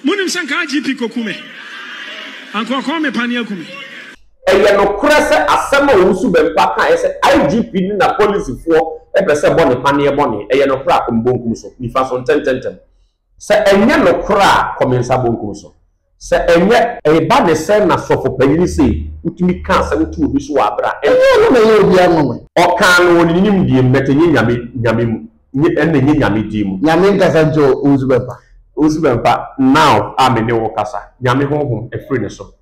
Monim sɛ nka IGP kɔku me, anka ɔkɔɔ me pane aku me. Ɛyɛ nokorɛ sɛ asɛm a Owusu Bempah kaeɛ sɛ IGP ne n'apolisifoɔ pɛ sɛ bɔ ne paneɛ bɔ ne, ɛyɛ nokorɛ a, kɔ me bonkum so, nifa so, ntɛntɛntɛm. Sɛ ɛnyɛ nokorɛ a, kɔ me nsa bonkum so. Sɛ ɛnyɛ. Eba ne sɛn na sɔfo panyini sei wotumi ka asɛm to obi so wɔ abere a ɛnteɛ. Ɛnyɛ ɔno na ɛyɛ obiara nwanwa. Ɔkaa no wɔ ne nimdeɛ mu but ɛnyɛ Nyame Nyame mu. Nye ɛnna nye Nyame din mu. Nyame nkasa nkyɛ wo, wo nsu bɛmpa. Wo nsu bɛmpa, now a me ne wo kasa. Nyame honhom firi ne so.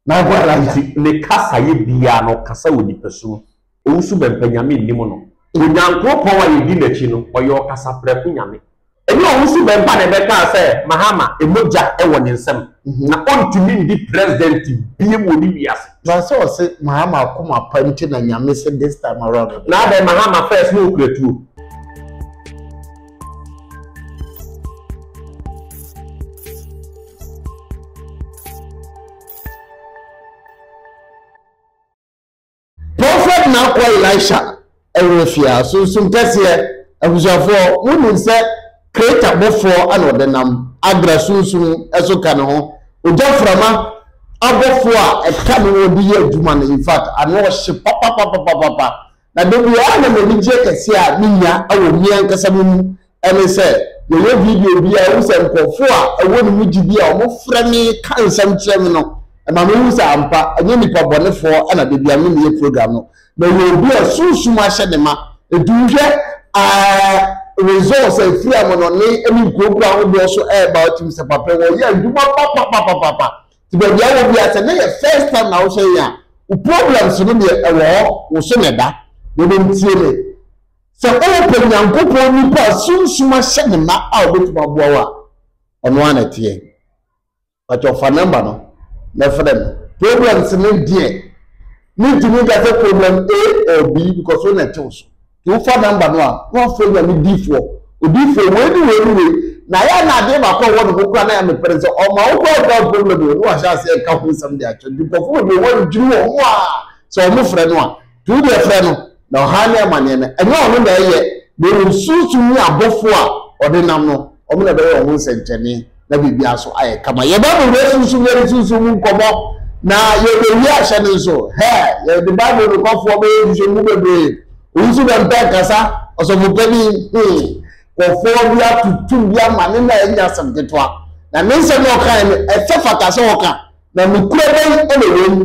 M'akoa Elijah. Nti ne kasayɛ biara no, ɔkasa wɔ nipasu mu. Owusu bɛmpa, Nyame nnim no. Onyankroɔpɔn a yɛdi n'akyi no, ɔyɛ ɔkasaprɛko Nyame. Ɛnyɛ Owusu bɛmpa na ɛbɛkaa sɛ Mahama mogya wɔ ne nsam, na ɔntumi ndi President bio wɔ ne wiase. Na sɛ ɔse mahama akoma pa nti na nyame se this time around ɔbɛyɛ. Na adɛn mahama first na okura tuo. Prophet na akoa Elisha. Ɛwerɛ fi a, Sunsum Kɛseɛ. Abusuafoɔ, monim sɛ Kreta bɔfoɔ na ɔde nam Agra Sunsum so ka ne ho. Ogyaframa abɔfoɔ a ɛka ne ho de yɛ adwuma no, in fact, ano hye papapapapapa. Na dabiara na m'anigyeɛ kɛseɛ a menya wɔ me ankasa me mu ne sɛ yɛyɛ video bi a ɛwɔ sɛ nkurɔfoɔ a ɛwɔ ne mu gyidi a wɔfrɛ me ka nsɛm kyerɛ me no ɛma mehu sɛ ampa ɛnyɛ nipa bɔnefoɔ ɛna de bia me meyɛ program no na ɛyɛ obi a sunsum ahyɛ ne ma ɛti wohwɛ results a ɛfiri a mo no ne ɛne nkurokuo ahodoɔ so ɛɛba wotim sɛ papa wɔyɛ adwuma papapapapapa nti baabi a wɔ bi a sɛ ne yɛ first time na wohyɛ yɛ a wo problems no deɛ ɛwɔ hɔ wo so na ɛda na ɛbɛm tie me Sɛ worepɛ Nyankopɔn nipa a Sunsum ahyɛ no ma a obetumi aboa wo a, ɔno ara na ɛteɛ. Pakyɛw fa number no na frɛ no. Problems no deɛ, mentumi nka sɛ problem A or B because wo na ɛte wo so. Nti wofa number no a, na wafrɛ Nyame difoɔ, odifoɔ wei ne wei ne wei, na ayɛ a na adeɛ baako a ɛwɔ ne ho koraa na ɛyɛ me pɛ ne sɛ ɔma wo koraa without problem o, na wahyɛ aseɛ ɛka ho nsɛm de akyerɛ nkurɔfoɔ bebree wɔn dwene wɔn ho a sɛ wɔn frɛ no a, Duru deɛ frɛ no, na ɔhaw ne amaneɛ no, ɛnyɛ ɔno na ɛyɛ, na mmom Sunsum ne abɔfoɔ a ɔde nam no, wɔn na ɛbɛyɛ wɔn ho nsɛnkyerɛnne, na biribiara so ayɛ kama. Yɛba Bible asunsumm ne yɛde sunsum mu nkɔmmɔ, na yɛbɛwie ahyɛ no nso. Hɛ, yɛde Bible nokwafɔɔ bɛyɛ nhwehwɛmu bebree. Owusu dɛ mpɛ nkasa, ɔsɔfopanin, hmm, kɔfɔɔ bi atutum bi ama ne na ɛnyɛ asɛm ketewa. Na ne nsɛm na ɔkae no, ɛfɛ fata sɛ ɔka, na nokorɛ bɛn na ɛwɔ mu?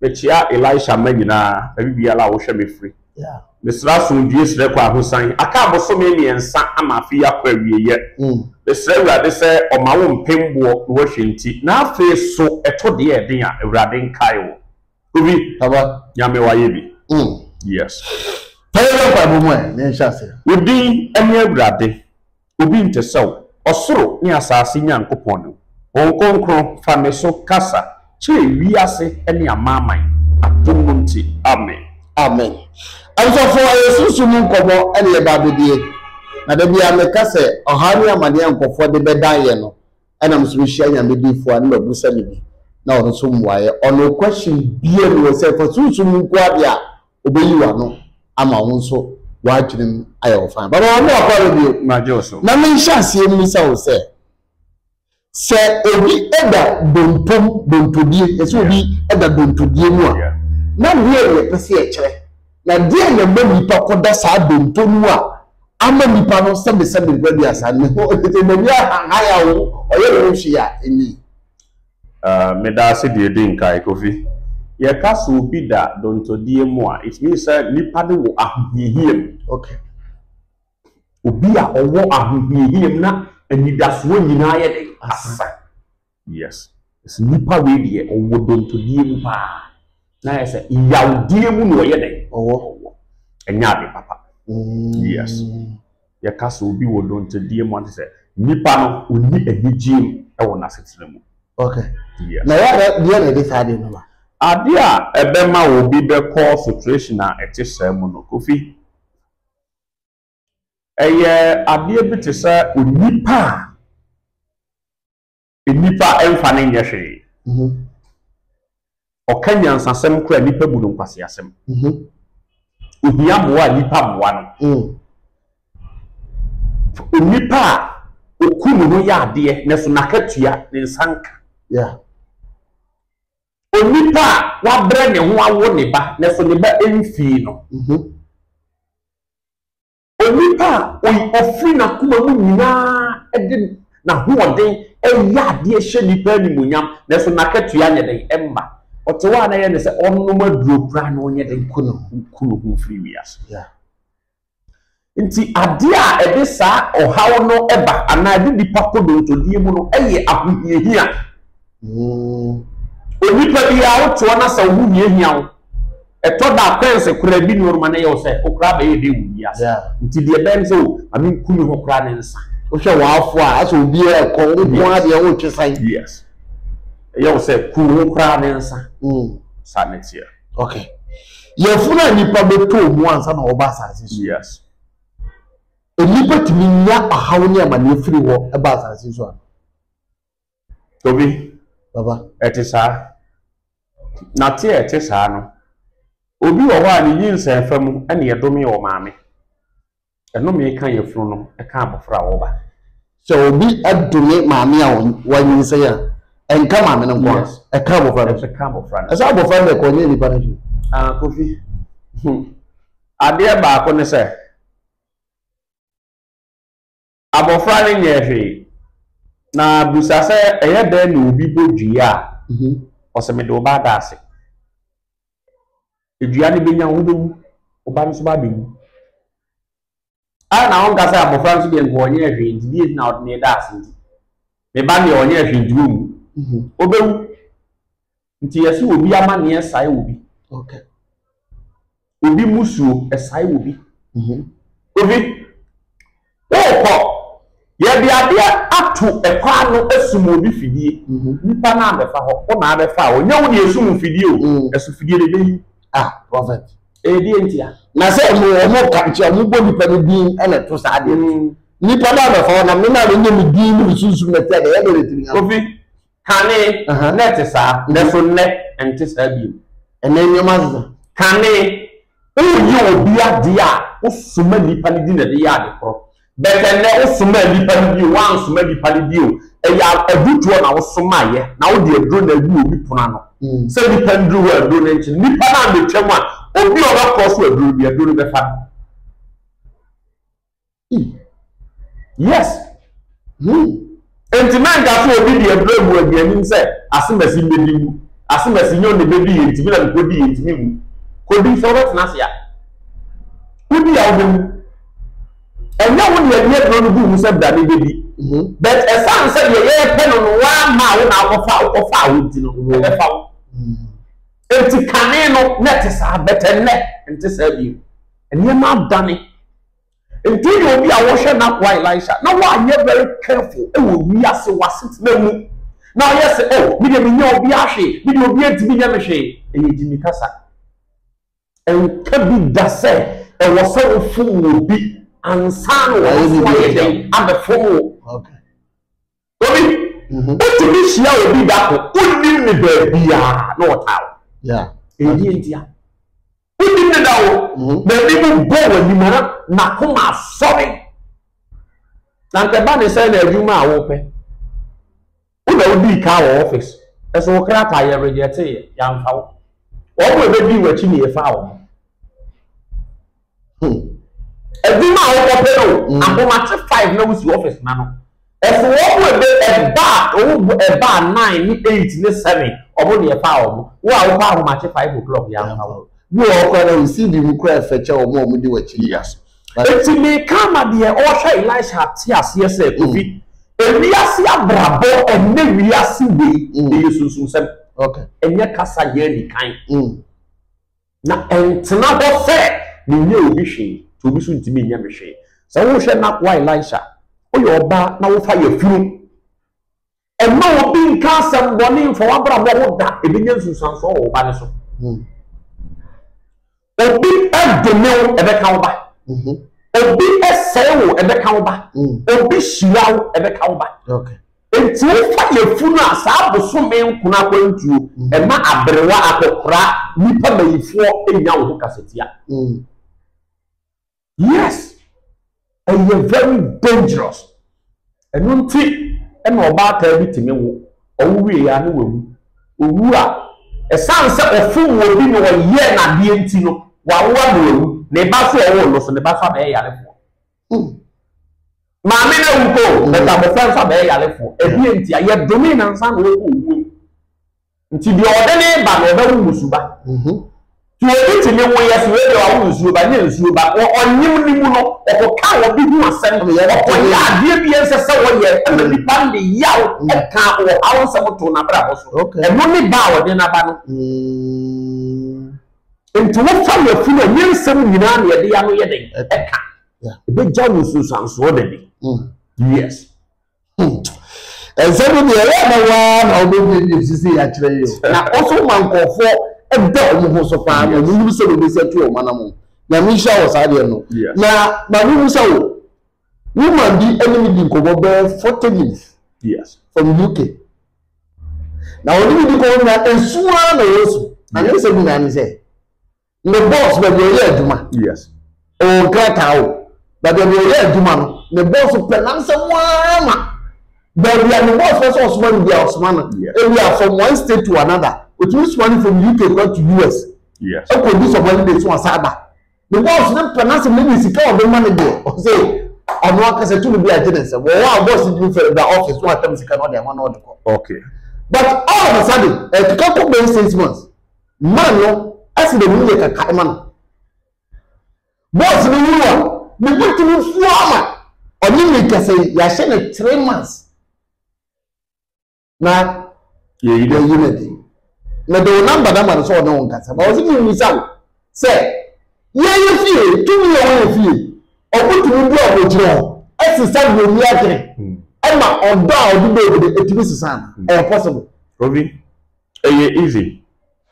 Mekyea Elisha mma nyinaa, baabi biara a wohwɛ me firi. Mesrɛ asomdwie srɛ kɔ ahosan. Aka abosome mmiɛnsa ama afe yi akɔ awieɛ. Mesrɛ Awurade sɛ ɔma wo mpem boɔ na wahwɛ nti. Na afei so ɛtɔ deɛ ɛden a, Awurade nkae wo. Obi, Nyame wayɛ bi. Yes. Pɛ yɛnyɛ mpaebɔ mu ɛ, na yɛnhyɛ aseɛ. Wo din ne Awurade. Obi nte sɛ wo, ɔsoro ne asase Nyankopɔn no. Honhom Kronkron, fa me so kasa kyerɛ wiase ne amanaman, adom no nti. Amen. Amen. Abusuafoɔ, ɛyɛ sunsum mu nkɔmmɔ na yɛba abɛdie. Na da biara meka sɛ, ɔhaw ne amaneɛ a nkorɔfoɔ de bɛdan yɛn no, ɛna me so mehyia Nyame difoɔ a ne mabusa no bi, na ɔno nso mmuaeɛ. Ɔno question biara nni hɔ sɛ fa sunsum mu nkoa deɛ a, obeyi w'ano ama wo nso w'adwenem ayɛ wo fann. Papa, wamma w'akɔ aba bio. Magye wo so. Na menhyɛ aseɛ mmisa wo sɛ, sɛ obi da donto mu, dontodie, yɛse obi da dontodie mu a, na deɛn na ɛpɛ sɛ ɛkyerɛ? Na deɛn na ɛma nnipa kɔda saa donto no mu a ama nnipa no sɛbesɛbe nkura duasa no ho? Tete, m'ani ahanhan a ɔyɛ ne ho hwee a, ɛnnie. Ahh meda ase deɛ edi nkan Kofi. Yɛka sɛ obi da dontɔdie mu a it means sɛ nipa no wɔ ahohiahia mu. Okay. Obi a ɔwɔ ahohiahia mu na anidasoɔ nyinaa yɛ dɛn? Asesa. Yes. Ɛsɛ nipa wei deɛ ɔwɔ dontɔdie mu paa na ayɛ sɛ yawdie mu na ɔyɛ dɛn? Ɔwɔ. Ɛnyɛ ade papa. Yes. yɛka sɛ obi wɔ dɔnkyɛdie mu a kyerɛ sɛ nipa no ɔnni anigyeɛ mu wɔ n'asetena mu. Okay. Yes. Na yɛ deɛ na ɛde saa deɛ no ma. Adeɛ a ɛbɛma obi bɛkɔ situation a ɛte saa mu no, Kofi, ɛyɛ adeɛ bi te sɛ onipa a Nnipa mfa no nyɛ hwee. Ɔka nyansasɛm kora a nnipa bu no nkwaseasɛm. Ohia mmoa a nnipa mmoa no. Onipa a oku ne ho yɛ adeɛ nanso n'akatua ne nsa nka. Onipa a wabrɛ ne ho awo ne ba nanso ne ba mfii no. Onipa a oi ofiri n'akoma mu nyinaa de n'ahoɔden yɛ adeɛ hyɛ nnipa animuonyam, nanso n'akatua nyɛ den, ɛmma. Ɔte hɔ a na ɛyɛ no sɛ ɔnom aduro koraa na ɔnyɛ den ku ne ho ku ne ho mfiri wiase. Yeah. Nti adeɛ a ɛde saa ɔhaw no ba anaa ɛde nipa kɔ dontodeɛ mu no yɛ ahohiahia. Mm. Onipa biara wotoɔ no sɛ wo ho hiahia wo ɛtɔ da akwanse koraa bi ne ɔnoma no yɛ wo sɛ wo koraa bɛyɛ dɛ wo wiase Yeah. nti deɛ ɛbɛn sɛ o ma menku me ho koraa ne nsa Wohwɛ w'afo a asɛ obiara ɛkɔ wo nko ara deɛ wotwe san. yes ɛyɛ wo sɛ ku wo ho koraa ne nsa Mm. saa ne teɛ Okay. Yɛfunu a nnipa bɛtɔ mu ansa na wɔba asase so. yes Nnipa tumi nya ɔhaw ne amanneɛ firi hɔ ba asase so a. Tobi, Papa. ɛte saa. Na te a ɛte saa no, obi wɔ hɔ a ne nyinsɛnfa mu na yɛdomee ɔmaame. Ɛnome ka yafunu no ka abɔfra a ɔreba. Sɛ obi dome maame a wanyinsɛn a, ɛnka maame no nko a, ɛka abɔfra no nso. Ɛka abɔfra no. Ɛsɛ abɔfra no na ɛkɔ, ɛnyɛ nipa no nso. Ah, Kofi. Adeɛ baako ne sɛ. Abɔfra no nyɛɛ hwee, na bisa sɛ ɛyɛ dɛn na obi bɔ dua a, ɔse mede wo ba ada ase. Dua no bɛnya wo, wobɛwu, wo ba no nso ba bɛwu. Ara na ɔnka sɛ abɔfra nso deɛ nka ɔnyɛɛ hwee nti, deɛ nti na ɔde ne reda ase nti. Me ba deɛ ɔnyɛɛ hwee nti wonwu, ɔbɛwu. Nti yɛse obi amanneɛ sae wɔ bi. Okay. Obi musuo ɛsae wɔ bi. Mm -hmm. Obi wokɔ yɛde adeɛ ato ɛkɔ ano asum obi fidie. Mm -hmm. Nipa no abɛfa hɔ wo na abɛfa a ɔnyɛ wo ne ɛsum fidie o. Mm. Ɛso fidie de bɛyi. Ah, prophet. Ɛdeɛ eh, ntia. Na sɛ ɔmo ɔmo ka nti ɔmo bɔ nipa no din ɛna ɛto saa adeɛ. Mm. Nipa no abɛfa hɔ na me na ne nyɛ me din ne me sunsum na ɛtia deɛ ɛyɛ deɛ ɛtiri nya. Obi. Kane, na ɛte saa, nanso nnɛ ɛnte saa bio. Ɛnnɛ nneɛma asesa. Kane, woyɛ obi adeɛ a, wosoma nnipa no di na ɛde yɛ ade korɔ. But ɛnnɛ, wosoma nnipa no bio, woansoma nnipa no bio. Ɛyɛ adutoɔ na wosomaeɛ, na wode aduro na agu obi pono ano. Mm. Sɛ nnipa nduru hɔ aduro no nkye, nnipa no ambɛtwam a, obi a ɔbɛkɔ so aduro no bi, aduro no bɛfa no. Yes. Hmm. Enti mɛnka sɛ obi de ɛbrɛ mu aduanim sɛ asemasi mbedi mu. Asemasi nyɛ ɔne bedi yɛ ntumi na mekodi yɛ ntumi mu. Kodi sɛ wobɛtena ase a. Wodi a wobɛwu. Ɛnyɛ wo deɛ deɛ ɛbrɛ no gu mu sɛ bra ne bedi. Mhm. But ɛsan sɛ deɛ yɛrepɛ no no waa maa wo na akɔfa wokɔfa wo nti no mhm. ɛbɛfa wo. Mhm. Enti kane no na ɛte saa bɛtɛ nnɛ nte saa bio. Nneɛma adane. Ntɛn yɛ obi a wɔhwɛ n'akoa Elisha na wanyɛ very careful wɔ wiase wɔ asetena mu na ɔyɛ sɛ oh me deɛ menyɛ obiara hwee me deɛ obiara ntumi nyɛ me hwee ɛyɛ gyimi kasa ɛnka bi da sɛ ɛwɔ sɛ wofom wɔ bi ansa na wɔn nso ayɛ dɛn abɛfom wo. Obi, wotumi hyia obi da ko, wonim ne baabiaa na ɔtaa wo. Ɛyɛ ntia. Wonim ne da wo, n'ani mu bɔ w'anim ara, n'akoma asɔre. Na nka ɛba ne sɛ na adwuma a wopɛ. Wo na wodii kaa wɔ office, ɛso wo krataa yɛ rejɛteeɛ, yɛamfa wo. Wɔn a ɛbɛdii w'akyi na yɛfaa wɔn. Hmm. Edwuma a wɔkɔ pɛ no, mm. ahomakye five na wusi office na no. Ɛso wɔn mu ebe ɛba a wɔn bu ɛba a nine ne eight ne seven wɔn deɛ fa wɔn. Wo a wokɔ ahomakye five o'clock yɛ afa wɔn. Bi wɔ hɔ koraa na wɔn CV mu koraa ɛfɛ kyɛ wɔn a wɔn di wɔn akyi. Yes. Eti meka ma deɛ ɔhwɛ Elisha ate aseɛ sɛ mm. kofi ewiase abrabɔ ɛnɛ wiase wei mm. ɛyɛ sunsunsɛm ɛnyɛ kasa yɛ nikan. Mm. Na ɛntena hɔ sɛ menyɛ obi hwee, nti obi nso ntumi nyɛ me hwee. Sɛ wohwɛ n'akoa Elisha a, woyɛ ɔbaa na wofa yafunu, ɛmma obi nka asɛm bɔne mfa w'abrabɔ ho da, ɛbɛnya nsunsuansoɔ wɔ wo ba no so. Hmm. Obi dome wo, ɛbɛka wo ba. Mhm. Obi sɛe wo, ɛbɛka wo ba. Hmm. Obi hyira wo, ɛbɛka wo ba. Enti wofa yafunu a saa bosome nkono akwantuo ɛma aberewa akɔkora nipa mayifoɔ nya wo ho kasatia. Yes ɛyɛ very dangerous ɛno nti ɛna ɔbaatan bi tumi wo ɔwo wie ya ne wawu owu a ɛsan sɛ ɔfom wɔ bi na ɔyɛ nadeɛ nti no wawoa na wawu ne ba so ɔwo no so ne ba so abɛyɛ yarefoɔ. Hmm. Maame no awu po, hmm. bɛta abɔfra nsa bɛyɛ yarefoɔ. Ɛdeɛ nti a yɛdome na nsa na ɔkɔ owuo. Nti deɛ ɔde ne ba na ɔbɛwo musuba. Mhm. Ti obi ti mi wo yɛ so ebi awo nsuo ba nye nsuo ba ɔnyim ne mu no ɔkɔka obi ho asɛm ɔyɛ adeɛ bi ɛnsɛ sɛ wɔyɛ ɛna mm. nipa ne yaw ɛka mm. wɔ awo nsɛm to n'abrabɔ so ɛno ne ba a ɔde n'aba no. Mm. Enti wofa yafunu a, nyɛ nsɛm nyinaa na yɛde ano yɛ dɛn ɛka. Ɛbɛgya wo nsunsuansoɔ da bi. Hmm. Yes. Hmm. Ɛnsɛm no deɛ ɛyɛ na waa na wobɛbiebie sisi yɛ akyerɛ yi o. Na ɔso ma nkɔɔfoɔ ɛda wɔn ho so paa na wɔn nim sɛ wɔbɛsɛ tu wɔn anamo. Nyame nhyira wɔ saa deɛ no. Na ma no mu sɛ wo, woman bi ɛne me di nkɔmmɔ bɛɛ forty minutes. Yes. From UK. na wɔde me di kɔn na esu ara na wɔsu na ne nsɛm nyinaa ne sɛ ne bɔs baabi a ɔyɛ adwuma yes ɔwɔ nkrataa o baabi a ɔyɛ adwuma no ne bɔs pɛ na nsɛm ara ma baabi a ne bɔs pɛ sɛ ɔsoma no bi a ɔsoma no ebi a from one state to another otumi soma no from UK kɔ to US ɛkɔ bi sɔmɔli de so ɔsan ba. Because ne pɛ n'asɛm ne ne sika a ɔde ma no deɛ ɔsɛ ɔno ankasa tumi bi agye ne nsam wɔ hɔ a boss ntumi fɛre ba office no atam sika na ɔde ama na ɔde kɔ. Okay. But all of a sudden ɛkeka kɔ bɛyɛ six months man no ɛsɛ dɛ mu yɛ kaka ma no boss no wuru a ne bu tumi fua ama ɔne ne kasa yi yɛahyɛ no three months. na yɛyi no ayi no adi mede wo namba no ama no sɛ ɔne wo nkasa na ɔse menwisa wo sɛ yɛyɛ fie tumi a wɔyɛ fie ɔmotumi bu a wɔgyina hɔ ɛsesa deɛ ɔni adwene hmm. ɛma ɔdɔ a ɔde bɔ obi de ɛtumi sesa no hmm. ɛyɛ possible obi ɛyɛ easy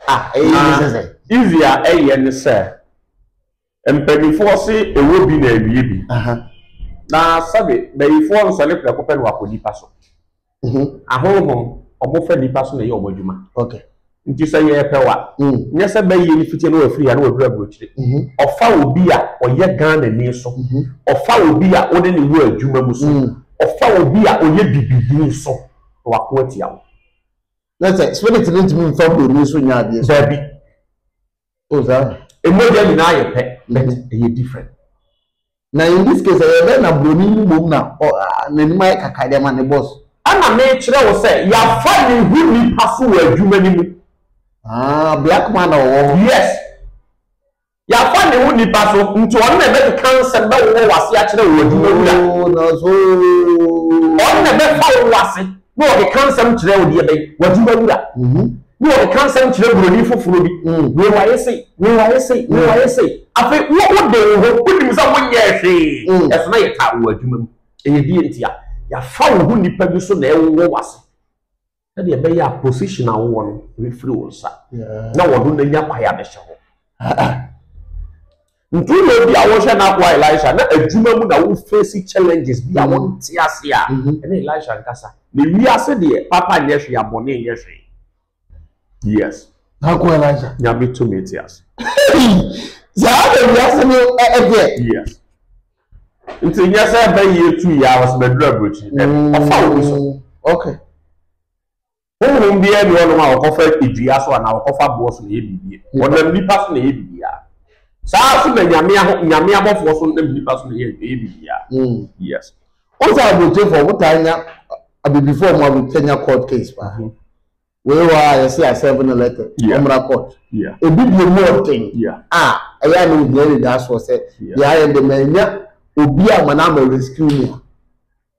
ah ɛyɛ easy sɛ easy a ɛyɛ ne sɛ Mpaninfoɔ se ɛwɔ bi na awie bi. Na sɛbe bayifoɔ nsɔne prɛko pɛ na wakɔ nipa so. Ahonhom, ɔmo fa nipa so na ɛyɛ ɔmo adwuma. Nti sɛ yɛɛpɛ wa, nyɛ sɛ bɛyie no fitie na wafiri ha na waduru aburokyire. Ɔfa obi a ɔyɛ Ghana ni so. Ɔfa obi a wone no wɔ adwuma mu so. Ɔfa obi a ɔyɛ bibi bi so na wako atia wo. Nɛ sɛ spirit no ntumi mfa buroni so nyɛ adeɛ so. Dabi. Oh, sir. Emogya nyinaa yɛ pɛ, but ɛyɛ different. Na in this case, ɛyɛ dɛn na broni no mmom na n'anim ayɛ kaka de ma ne boss? Ɛna mekyerɛ wo sɛ yɛafa ne ho nipa so wɔ adwuma no mu. Ah, black man na ɔwɔ hɔ. Yes. Yɛafa ne ho nipa so, nti ɔno na ɛbɛkeka nsɛm bɛwowɔ w'ase akyerɛ wo adwuma wura. Oh, na so. Ɔno na ɛbɛfa wo w'ase. na ɔkeka nsɛm kyerɛ odeɛbɛn w'adwuma wura na ɔkeka nsɛm kyerɛ buroni foforɔ bi wei wayɛ sei wei wayɛ sei wei wayɛ sei afei wo wode wo ho wonim sɛ wonyɛɛ hwee ɛso na yɛtaa wo wɔ adwuma mu ɛyɛ deɛ nti a yɛafa wo ho nnipa bi so na ɛwowɔ w'ase sɛdeɛ ɛbɛyɛ a position a wowɔ no bɛfiri wo nsa na wɔno no anya kwae a bɛhyɛ hɔ Ntu na obi a wɔhwɛ n'akoa Elisha na adwuma mu na wo face challenges bi a wo nte ase a ɛne Elisha nkasa na wiase deɛ papa nyɛ hwee a bɔne nyɛ hwee yes n'akoa Elisha nyame to me te ase saa na wiase no ɛdeɛ yes nti nyɛ sɛ ɛbɛ yie tu yɛ a wɔsɛ bɛdura aburokyi ɔfa obi so okay. Honhom biara nni hɔnom a wɔkɔfa dua so anaa wɔkɔfa aboɔ so na ɛyɛ biribiara. Wɔnam nnipa so na ɛyɛ biribiara. Saa ara nso na Nyame aho, Nyame abɔfoɔ nso nam nnipa so na ɛyɛ, ɛyɛ biribiara. Mm. Yes. Wohu sɛ aburokyefo, wɔtaa nya, abibifo wɔn a wɔtaa nya court case paa. Mhm. Wei wɔ a yɛse a seven letter, Yeah. wɔmmra court. Yeah. Ebi deɛ mu ɔden Yeah. a ɛyɛ a na ohia ne da soɔ sɛ Yeah. yɛayɛ de ma anya obi a ma no ama rescue me a.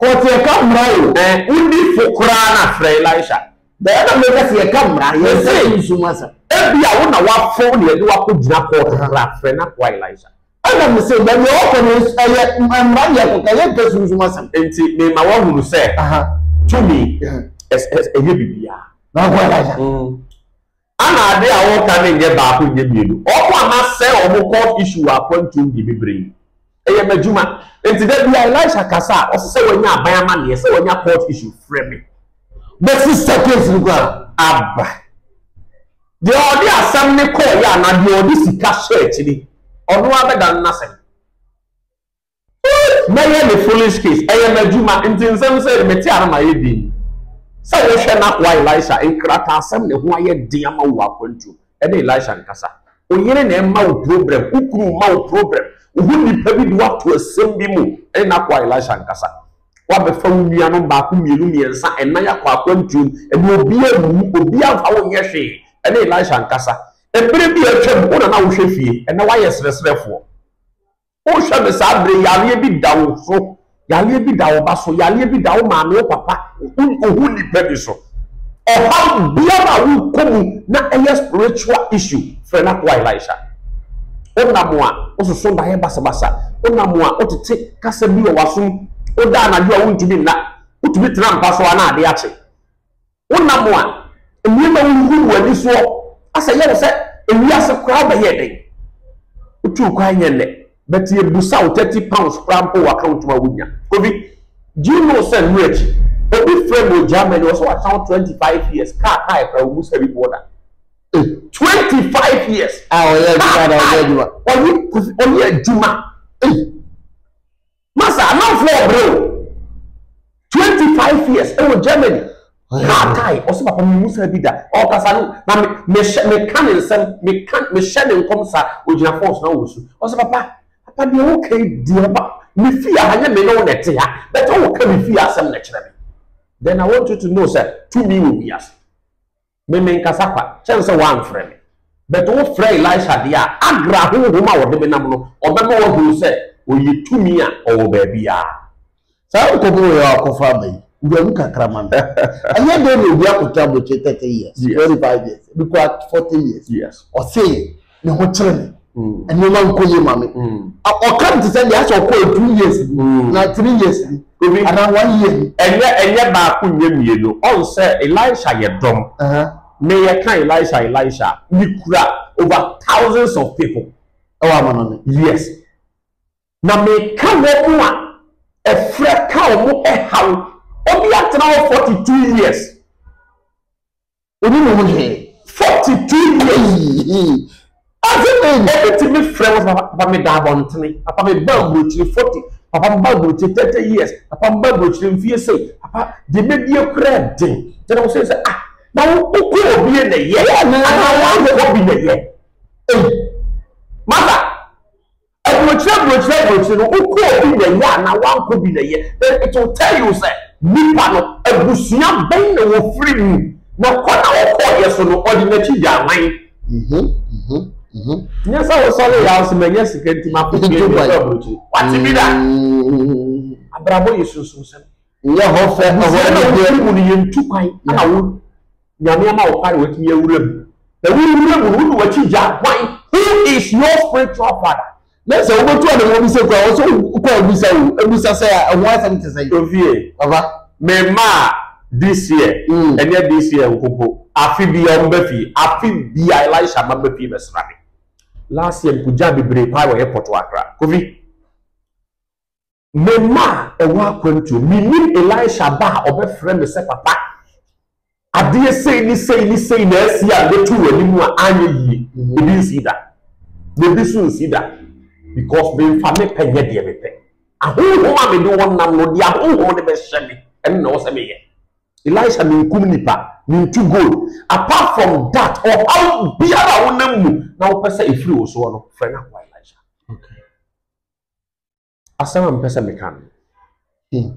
Kɔ te yɛ ka mmra o. Ɛɛ wo di fo koraa na frɛ Elisha. Dɛɛ na me ka se yɛ ka mmra yɛ nsa sunsum asɛm. Ebia wo na wa fo na yɛde wo akɔ gyina court kra frɛ na koa Elisha. Ɛna me se baabi a wo kɔ no ɛyɛ mmra na yɛ kɔ ka yɛ nka sunsum asɛm. Nti me ma wa hunu sɛ tumi ɛyɛ bibiaa. Na koa Elisha. Ana ade a woka no nyɛ baako nyɛ mmienu? Ɔmo a masɛe ɔmo court issue wɔ akwantuo no deɛ bebree. Ɛyɛ m'adwuma. Nti da biara Elisha kasa a, ɔsɛ sɛ wanya aban amanneɛ, sɛ wanya court issue, frɛ me. Bɛsi sa case no koraa aba. Deɛ ɔde asɛm no kɔeɛ anaa deɛ ɔde sika hyɛɛ akyiri, ɔno ara bɛdane n'asɛm. Mɛyɛ ne foolish case, ɛyɛ m'adwuma, nti nsɛm sei no mete a na mayɛ dinn. Sɛ wohwɛ n'akoa Elisha nkrataasɛm na ɛho ayɛ den ama wo wɔ akwantuo mu, ɛne Elisha nkasa. Wo yere na ɛma wo problem, wo kunu ma wo problem, wo ho nipa bi de wo ato asɛm bi mu, ɛne n'akoa Elisha nkasa. Woabɛfa wo nuanom baako, mmienu, mmiɛnsa, nnan akɔ akwantuo mu, ɛnna obiara anwu, obiara amfa wo nyɛ hwee, ɛne Elisha nkasa. Mmerɛ bi a atwam, wo na na wohwɛ fie, ɛnnɛ woayɛ serɛserɛfoɔ. Wohwɛ no saa bere yi, yareɛ bi da wo so, yareɛ bi da wo ba so, yareɛ bi da wo maame, wo papa, ohu nipa bi so. Ɔhaw biara a wokɔ mu na ɛyɛ spiritual issue, frɛ n'akoa Elisha. Wonam a wososo daeɛ basabasa, wonam a wotete kasa bi wɔ w'asom, woda anadwo a wontumi nna, wotumi tena mpa so a na adeɛ akye. Wonam a nneɛma huhuw wo ani soɔ a sɛ ɛyɛ wo sɛ ewiase koraa bɛyɛɛ dɛn? Wotuu kwan nyɛ nnɛ but yɛbusa wo thirty pounds koraa mpo wɔ account mu a wonnya. Kofi, do you know sɛ mmerɛ akyi obi frɛ me wɔ Germany ɔsɛ watena hɔ twenty five years kaa kae koraa ɔmmu sika bi boɔ da. Eh! Twenty five years! Ah ɔyɛ adwuma da ɔyɛ adwuma. Ɔyɛ Kofi ɔyɛ adwuma ei. Masa amanfoɔ ɔbrɛ o. Twenty five years ɛwɔ Germany. Car tie ɔsɛ papa mi mu saa bi da. Ɔkasa no na me me hyɛ me ka ne nsɛm me ka me hyɛ ne nkɔm sa ogyina fɔs na ɔwɔ su. Ɔsɛ papa papa deɛ ɔka yi deɛ ba me fie aha nyɛ me ne wo na ɛte ha but ɔka me fie asɛm na ɛkyerɛ me. Then I want you to know sɛ tumi wɔ wiase. Me menkasa kwa, kyɛn sɛ woamfrɛ me. But wofrɛ Elisha deɛ a, Agra honhom a ɔde me nam no, ɔbɛma woahunu sɛ ɔyɛ tumi a ɔwɔ baabiara. Saa nkɔmmɔ wei a ɔkɔfa aba yi, wura mu kakra ma me. Ɛnyɛ dɛn na obi akɔtena aburokyire thirty years, twenty five years, ebi koraa forty years. Ɔse ne ho kyerɛ me mm. nneɛma nkɔ yie ma me mm. ɔka no te sɛ deɛ asɛ ɔkɔɔ two years bi mm. na three years bi obi anaa one year bi. ɛnyɛ ɛnyɛ baako nyɛ mmienu ɔn sɛ elisha yɛ dɔm ne yɛ ka elisha elisha ne kura over thousands of people. ɛwɔ ama no ne. yes na meka wɔn a ɛfrɛ ka wɔn ɛhaw obi atena hɔ forty two years. Onni ne ho hwee. Forty two years hii. Ɔdze ne nda bi tse me frɛ wo papa papa meda abɔntene papa me ba aburokyire forty papa me ba aburokyire thirty years papa me ba aburokyire mfie sei papa deɛ mɛdie koraa den gyɛ na wo sɛ sɛ ah na wo wokɔ obie na yɛ anaa woayɛ obi na yɛ ei mother Aburokyire aburokyire aburokyire no wokɔɔ bi na ɛyɛ anaa woankɔ bi na ɛyɛ then it will tell you sɛ nipa no abusua bɛn na wɔfiri mu na kɔ na ɔkɔɔyɛ so no ɔde n'akyi gyaa hwan. Mhm mhm mhm. Nyɛ sɛ wo sɔre ya nso manya sika nti makɔ Dubai akɔ aburokyire wate bi da. Abrabɔ yɛ sunsum sɛm. Nyɛ hɔ fɛ ɛhɔ anigyeɛ. Abusua na wofiri mu no yɛntu kwan na wo Nyame ama wo kwan na watumi awura mu. Na wo wura mu no wode wakyi gya hwan? Who is your spiritual father? Na sɛ wobɛtu ade ma obi sɛ kura wɔ sɛ wokɔ abisa o, abisa sɛ a ɛho asɛm te sɛn? Ofie. Papa. Me mma a this year, ɛnyɛ this year nko mpo, afe biara wɔn ba fie, afe biara Elisha mma ba fie bɛsra me. Last year mekɔgyaa bebree paa wɔ airport wɔ Accra. Kofi. Me mma a ɛwɔ akwantuo, mennim Elisha ba a ɔbɛfrɛ me sɛ papa. Adeɛ sei ne sei ne sei na asi a mɛtu w'anim a anyɛ yie. Mhm. Ebi nsi da. Na ebi so nsi da. Because memfa me pɛ nyɛ deɛ mepɛ. Ahonhom a mede wɔn nam no, deɛ ahonhom no bɛhyɛ me, ɛno na ɛwɔ sɛ meyɛ. Elisha menkum nipa, mentu gold. Apart from that, ɔhaw biara a wonam mu na wopɛ sɛ ɛfiri wo soɔ no, frɛ no akoa Elisha. Okay. Asɛm a mepɛ sɛ meka no. Hmm.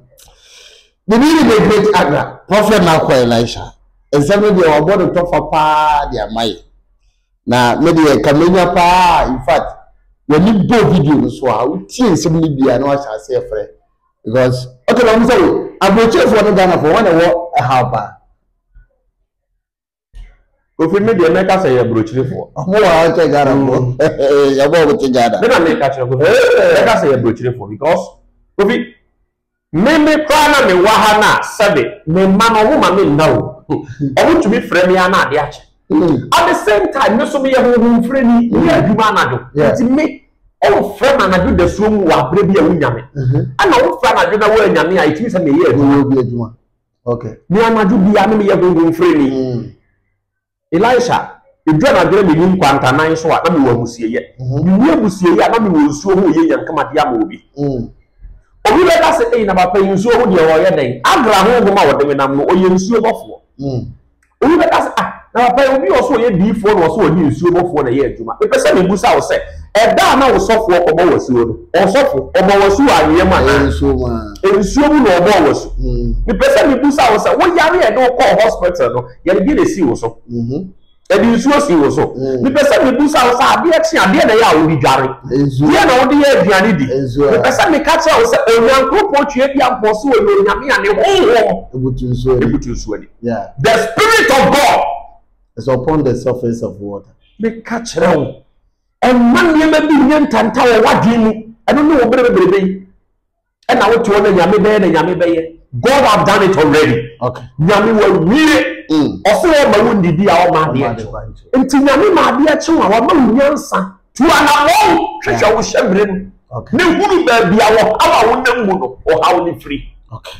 Biribi ne bɛ great agra. Prɔfɛt na akɔ Elisha. Nsɛm no deɛ wabɔ ne tɔfa paa de ama yɛ. Na me deɛ ka menya paa in fact w'ani bɔ video no so a wotie nsɛm no bia na wahyɛ ase ɛfrɛ because okay na ɔmo sɛ wo aburokyefoɔ ne Ghanafoɔ wɔn na ɛwɔ ɛhaw paa. Kofi me deɛ mɛka sɛ yɛ burokyirifoɔ. Ɔmo wɔ ha kyɛ Ghana foɔ. Yɛbɔ ɔmo te Ghana. Me na meka kyerɛ Kofi. Mɛka sɛ yɛ burokyirifoɔ because Kofi me me koraa na me wɔ ha na sɛbe me mma no ɔmo ma me nna o. Ɔmo tumi frɛ me a na ade akye. At the same time me so me yɛ honhom frɛni me yɛ adwuma anadwo. Nti me ɔmfrɛ me anadwo dasuo mu wɔ abere bi a wo nya me. Ɛna ɔmfrɛ anadwo na wo annya me a ɛtumi sɛ me yɛ adwuma. Okay. Me anadwo biara ne meyɛ honhom firani. Mm. Elisha, ɛduru anadwo na menim kwantanan so a na mewɔ amusieyɛ. Mm-hmm. Menni amusieyɛ a na mewɔ nsuo ho yɛ nyankamade ama obi. Mm. Obi bɛka sɛ, ei na papa yi nsuo ho deɛ ɔyɛ dɛn? Agra honhom a ɔde me nam no, ɔyɛ nsuo bɔfoɔ. Mm. Obi bɛka sɛ, Ah, na papa yi, obi wɔ so ɔyɛ diifoɔ na ɔsɛ ɔne nsuo bɔfoɔ na ɛyɛ adwuma. Mepɛ sɛ mebisa wo sɛ, ɛda a na wo sɔfoɔ kɔbɔ wo asuo no, ɔsɔfo, ɔbɔ wo asu wɔ anweɛ mu anaa? Nsuo mu ara. Nsuo mu na ɔbɔɔ wo asu. Mepɛ sɛ mebisa wo sɛ, wo yare a yɛde wo kɔɔ hospital no, yɛde deɛ na ɛsii wo so? Yɛde nsuo sii wo so. Mepɛ sɛ mebisa wo sɛ, adeɛ kye a, deɛ na ɛyɛ a wode dware? Deɛ na wode yɛ aduane di? Mepɛ sɛ meka kyerɛ wo sɛ, Onyankopɔn Tweaduampɔn se ɔyɛ Onyame a ne honhom butu nsuo ani. Yeah. The spirit of God. It's upon the surface of water. Meka kyerɛ wo, ɛmma nneɛma bi nyɛ ntanta wɔ w'adwene mu. Ɛno ne wo bere bebrebe yi. Ɛna wote hɔ na nyame bɛyɛ na nyame bɛyɛ. God have done it already. Okay. Nyame wawie. Mm. Ɔsɛ ɔma wo ndidi a ɔma adeɛ kyew. Nti nyame ma adeɛ kyew a wama wo nyansa. Tu anamɔn hwehwɛ wo hyɛ bere mu. Ne hunu baabi a wɔhaw a wonam mu no, ɔhaw ne firi. Okay.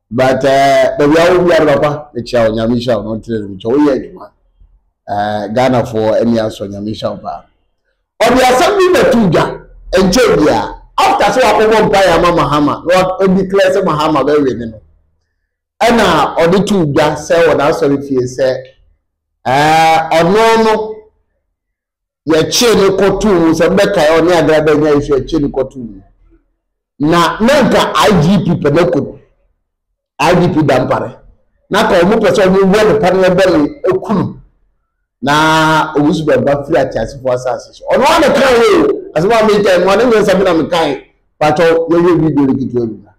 But eh, baabi a wɔ biara papa mekyia wo nyame nhyira wo no ntere no mekyia woyɛ adwuma eh, Ghanafoɔ ani asɔ nyame nhyira wo paa ɔde asɛm bi na tu dwa nkyɛ biara after sɛ wakɔbɔ mpaeɛ ama Mahama na wadeclare sɛ Mahama bɛwe ne no ɛna ɔde tu dwa sɛ wɔ n'asɔre fie sɛ eh, ɔno no Yɛkyee no kɔtoo mu, sɛ mobɛkae a ɔne Agra da nyae so a yɛkyee no kɔtoo mu. Na na anka IGP pɛ no akum. IGP Dampare. Na ka wɔn pɛ sɛ wɔn wɔ ne paneɛ bɔ ne aku no. Na Owusu Bɛmpa firi ateasefoɔ asase so. Ɔno ara na kae o. Asɛm a mekae no, ɔne nyɛ nsɛm na mekae. Pakyɛw yɛnhwɛ video no ketewa bi ma.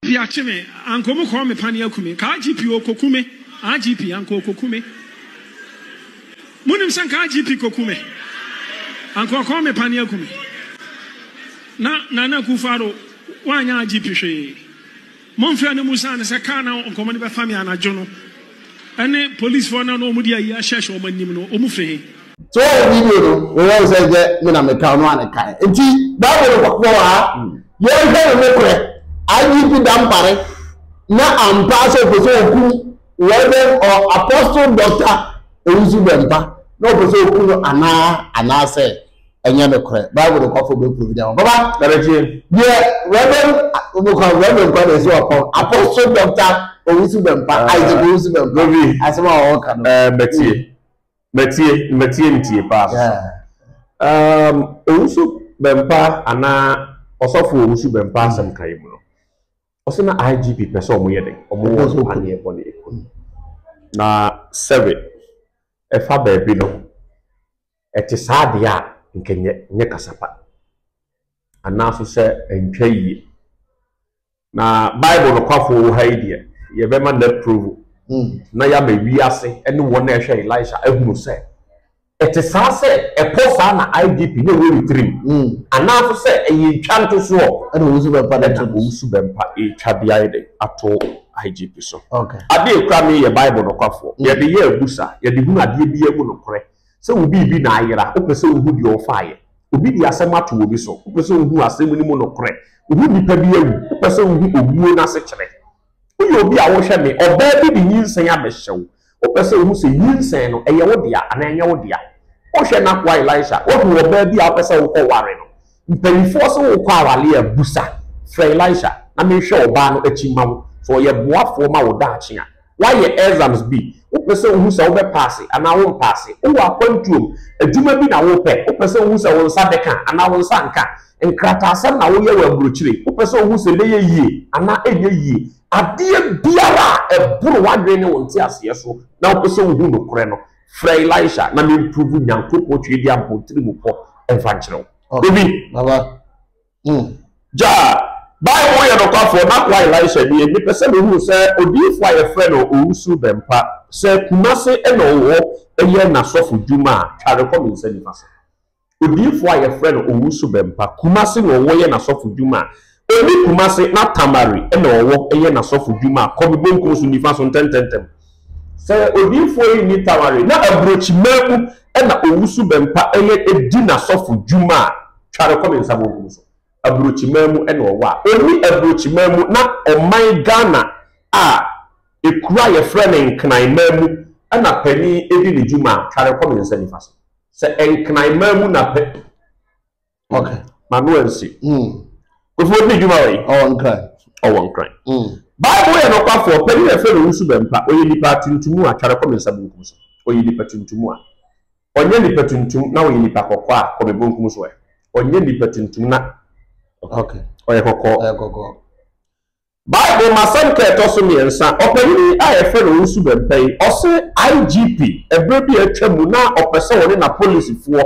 Pi akye me, anka ɔmo kɔɔ me pane aku me, ka IGP okoku me, IGP anka okoku me, mo nim sɛ nka IGP koku me, anka ɔkɔɔ me pane aku me, na Nana Akufo-Addo wanyɛ IGP hwee, Monfrɛ no mmusa no sɛ car na nkɔmɔ no bɛfa me anadwo no ɛne police foɔ no a na wɔn de ayi ahyɛhyɛ wɔn anim no wɔn firi he? So wohu video no? Woyɛ wo sɛ nkyɛ me na meka ɔno a ne kae nti bible no wɔ hɔ a yɛnhwɛ no nokorɛ IGP Dampare na ampaa sɛ ɔpɛ sɛ ɔku Reverend or Apostle Doctor Owusu Bɛmpa na ɔpɛ sɛ ɔku no anaa anaasɛ ɛnyɛ nokorɛ bible nokwafo bɛpro bi dama baba daretie deɛ reverend nokwa reverend kwa deɛ sɛ wapɔn apostle doctor owusu bɛmpa ah. isaac owusu bɛmpa lobi asɛm a wɔwɔ ka no eh, mɛtie hmm. mɛtie mɛtie ntie paa so um, owusu bɛmpa anaa ɔsɔfo owusu bɛmpa hmm. asɛm ka yi mu no ɔsɛ na igp pɛ sɛ ɔmo yɛ dɛ ɔmo wɔ paneɛ bɔ ne ɛkɔ na sɛbe ɛfa baabi no Ɛte saa deɛ a, nka ɛnyɛ nyɛ kasa pa, anaa nso sɛ ɛntwa yie. Na Bible nokwafoɔ wɔ ha yi deɛ, yɛbɛma no approve hmm. na yɛama wiase ne wɔn a ɛhwɛ Elisha ahunu sɛ ɛte saa sɛ ɛpɔ saa na IGP ne wɔn retirim hmm. anaa nso sɛ ɛyɛ ntwa ntosoɔ ɛna wɔn nso bɛmpa ɛna wɔn nso bɛmpa ɛtwa de ayɛ de ato IGP so. Adeɛ ekura mi yɛ Bible nokwafoɔ hmm. yɛde yɛ abusa yɛde hunu adeɛ bi emu nokorɛ. Sɛ wo biribi na ayera, wopɛ sɛ wuhu deɛ ɔfaeɛ. Obi de asɛm ato obi so, wopɛ sɛ wuhu asɛm no mu nokorɛ. Wohu nipa bi awu, wopɛ sɛ wuhu owuo no asekyerɛ. Woyɛ obi a wohwɛ me, ɔbaa bi de nyinsɛn abɛhyɛ wo, wopɛ sɛ wuhu sɛ nyinsɛn no, ɛyɛ wo dea anaa ɛnyɛ wo dea. Wohwɛ n'akoa Elisha, woahu ɔbaa bi a wopɛ sɛ wokɔware no, Mpanimfoɔ se wokɔ awareɛ a, busa, frɛ Elisha na menhwɛ ɔbaa no akyi mma wo. Sɛ ɔyɛ boafoɔ ma wo daakye a, woayɛ exams bi, wopɛ sɛ wohu sɛ wobɛpaase anaa wompaase. Wowɔ akwantuom, adwuma bi na wopɛ, wopɛ sɛ wohu sɛ wo nsa bɛka anaa wo nsa nka. Nkrataasɛm na woyɛ wɔ aburokyire, wopɛ sɛ wohu sɛ ɛbɛyɛ yie anaa ɛnyɛ yie. Adeɛ biara a ɛboro w'adwene ne wo nteaseɛ so na wopɛ sɛ wohu nokorɛ no, Frɛ Elisha na me mprove Nyankopɔn twiri di ampɔntiri mu pɔ ɛmfa nkyerɛ wo. Obi. Baba. Mm. Gya, Bible yɛ nokwafoɔ na kwa Elisha nie, mepɛ sɛ mehunu sɛ odiyifoɔ a yɛfrɛ no Owusu Bɛmpa, sɛ Kumase na ɔwɔ yɛ n'asɔfo dwuma a, tware kɔ me nsa nifa so. Odiyifo a yɛfrɛ no Owusu Bempah, Kumasi na ɔwɔ yɛ n'asɔfodwuma a onni Kumasi na Tamale na ɔwɔ yɛ n'asɔfodwuma a Kɔbe Bonkum so nifa so ntɛntɛntɛm. Sɛ odiyifoɔ yi nni Tamale na Aburokyiman mu na Owusu Bempah yɛ di n'asɔfodwuma a tware Kɔbe nsa bonkum so, Aburokyiman mu na ɔwɔ a onni Aburokyiman mu na ɔman Ghana a ekuro a yɛfrɛ no Nkran man mu na panin di ne dwuma a tware Kɔbe nsa nifa so. Sɛ nkran maa mu na pɛ. Okay. Ma no ansi. Mm. Kofi odi dwuma wɔ yi. Ɔwɔ nkran. Ɔwɔ nkran. Mm. Bible yɛ nɔkwafoɔ panyin a ɛfɛ no wusu bɛmpa ɔyɛ nipa atuntum a tware kɔ me nsa bunkum so ɔyɛ nipa tuntum a ɔnyɛ nipa tuntum na ɔyɛ nipa kɔkɔɔ a kɔ me bunkum so ɛ ɔnyɛ nipa tuntum na okay ɔyɛ kɔkɔɔ ɔyɛ kɔkɔɔ Bible mu asɛnka a ɛtɔ so mmiɛnsa, ɔpanyin yi a wɔfrɛ no Owusu Bempɛn, ɔse IGP ɛberɛ bi a atwa mu no a ɔpɛ sɛ ɔne n'apolisifoɔ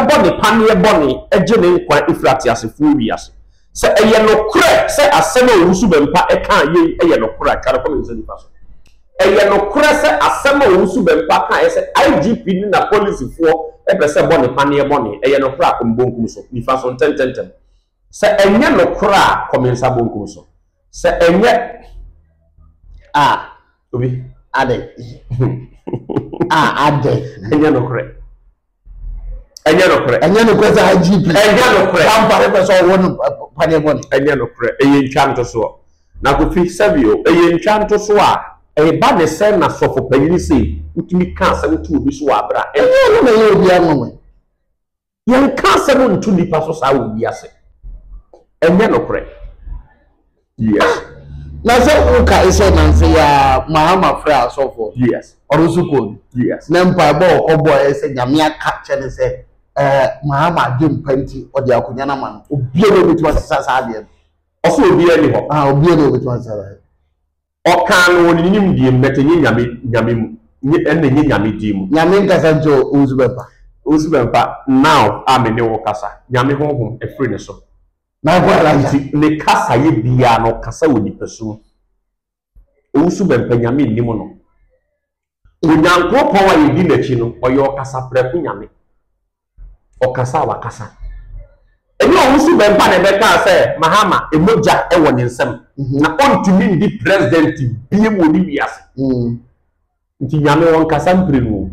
bɔ ne paneɛ bɔne gye ne nkwa firi ateasefoɔ wiase. Sɛ ɛyɛ nokorɛ sɛ asɛm a Owusu Bɛmpa kaa yei yɛ nokorɛ a, twa no kɔ me nsa nifa so. Ɛyɛ nokorɛ sɛ asɛm a Owusu Bɛmpa kaeɛ sɛ IGP ne n'apolisifoɔ pɛ sɛ bɔ ne paneɛ bɔne, ɛyɛ nokorɛ a, kɔ me bonkum so, nifa so, ntɛntɛntɛm. Sɛ ɛnyɛ nokorɛ a, kɔ me nsa bonkum so. Sɛ ɛnyɛ a, obi. Adɛn? a, adɛn? Ɛnyɛ nokorɛ. Ɛnyɛ nokorɛ. Ɛnyɛ nokorɛ sɛ IGP. Ɛnyɛ nokorɛ. Kampare pɛ sɛ ɔwɔ no paneɛ bɔne. Ɛnyɛ nokorɛ. Ɛyɛ ntwa ntosoɔ. Na Kofi sɛbi o, ɛyɛ ntwa ntosoɔ a ɛba ne sɛn na sɔfo panyini sei wotumi ka asɛm to obi so wɔ abere a. Ɛnyɛ ɔno na ɛyɛ obiara nwanwa yi. Yɛnka asɛm nto nnipa so saa wɔ wiase. Ɛnyɛ nokorɛ. Yes. Na sɛ wokae sɛ nanse yɛ a Mahama frɛ asɔfoɔ. Yes. Ɔno nso kɔɔ bi. Yes. Na mpaebɔ a ɔkɔbɔeɛ sɛ Nyame aka kyerɛ no sɛ ɛɛ Mahama adwempa nti ɔde akonwa no ama no. Obiara na obetumi asesa saa adeɛ no. Ɔse obiara nni hɔ. Ahaa obiara na obetumi asesa saa. Ɔkaa no wɔ ne nimdeɛ mu, but ɛnyɛ Nyame Nyame mu, nyɛ ɛna ɛnyɛ Nyame din mu. Nyame nkasa nti o, wo nso bɛmpa. Wo nso bɛmpa, now a me ne wo kasa, Nyame honhom ɛfiri ne so. Na nko ara nsa. Nti ne kasa yɛ biara no, ɔkasa wɔ nipasu mu. Owusu bɛmpa, Nyame nnim no. Onyankopɔn a yɛdi n'akyi no, ɔyɛ ɔkasaprɛko Nyame. Ɔkasa a wakasa. Ɛnyɛ ɔwosu bɛmpa na ɛbɛkaa sɛ Mahama mogya wɔ ne nsam na ɔntumi ndi president biam wɔ ne wiase. Nti Nyame ɔnkasa mprenu o.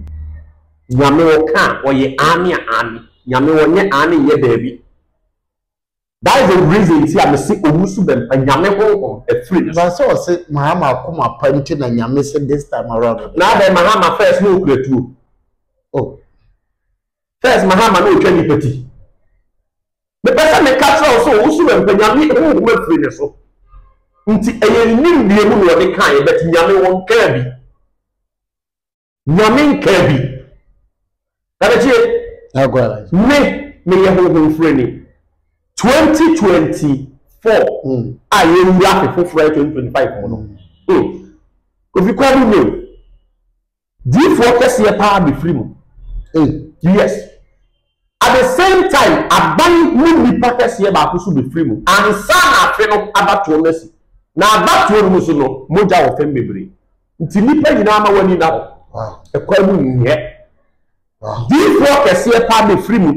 Nyame ɔka a, ɔyɛ aane a aane. Nyame ɔnyɛ aane nyɛ daabi. That is the reason nti a me se owu so bɛmpa Nyame honhom afiri ne so. But sɛ ɔse Mahama akoma pa nti na Nyame se this time around ɔde. Na adɛn Mahama first na okura tuo? Oh. First Mahama na otwa nipa ti. Me pɛ sɛ me ka kyerɛ wo sɛ owu so bɛmpa Nyame honhom afiri ne so. Nti ɛyɛ ne nimdeɛ mu na ɔde kaeɛ but Nyame wɔnkaa bi. Nyame nkaa bi. Kabetie. Agora. Me meyɛ honhom firani. 2024 mm. a yɛwura afe foforɔ yɛ 2025 mu no. Mm. Kofi kwan mu nyɛ o. Diifoɔ kɛseɛ paa bɛfiri mu. Hey. Yes. At the same time aban mu nnipa kɛseɛ baako nso bɛfiri mu ansa na afe no abatoɔ no asi. Na abatoɔ no mu nso no mogya wɔ fam bebree nti nnipa nyinaa ma wɔn ani nna hɔ. Ɛkwan mu nyɛ. Diyifoɔ kɛseɛ paa bɛfiri mu.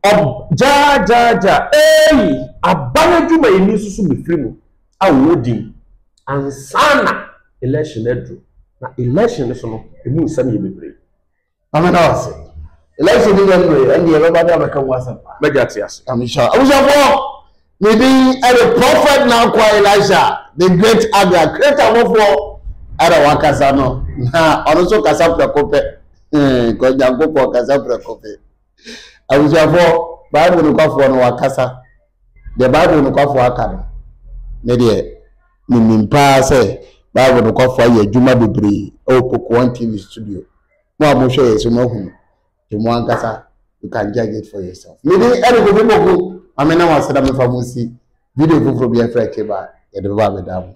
Ɔb gyaagyaagya eii aban adwumayɛni nso so bɛfiri mu a ɔwɔ din ansa na election no aduru. Na election no so no ɛmu nsɛm yɛ bebree. Na me da wo ase. Election ni January, ɛnde ɛbɛba de abɛka mu asɛm. M'agya te ase. Nyame nhyira wo. Abusuafoɔ, me din ɛde Prophet Nankwa Elisha, the great Abia Kretamofoɔ ɛna wakasa no, na ɔno nso kasa prɛko pɛ. Kɔ Nyankopɔn kasa prɛko pɛ. Abusuafoɔ, Bible nokwafoɔ no wakasa. Deɛ Bible nokwafoɔ aka no, me deɛ menim paa sɛ Bible nokwafoɔ ayɛ adwuma bebree ɛwɔ Pokuon TV studio. Mo a mohwɛ yɛ so moahu no, nti mo ankasa you can judge it for yourself. Me din ɛne Kofi Poku, ma me nam ase na mefa mo nsi video foforɔ bi ɛfrɛ Keba yɛde bɛba abɛda mo.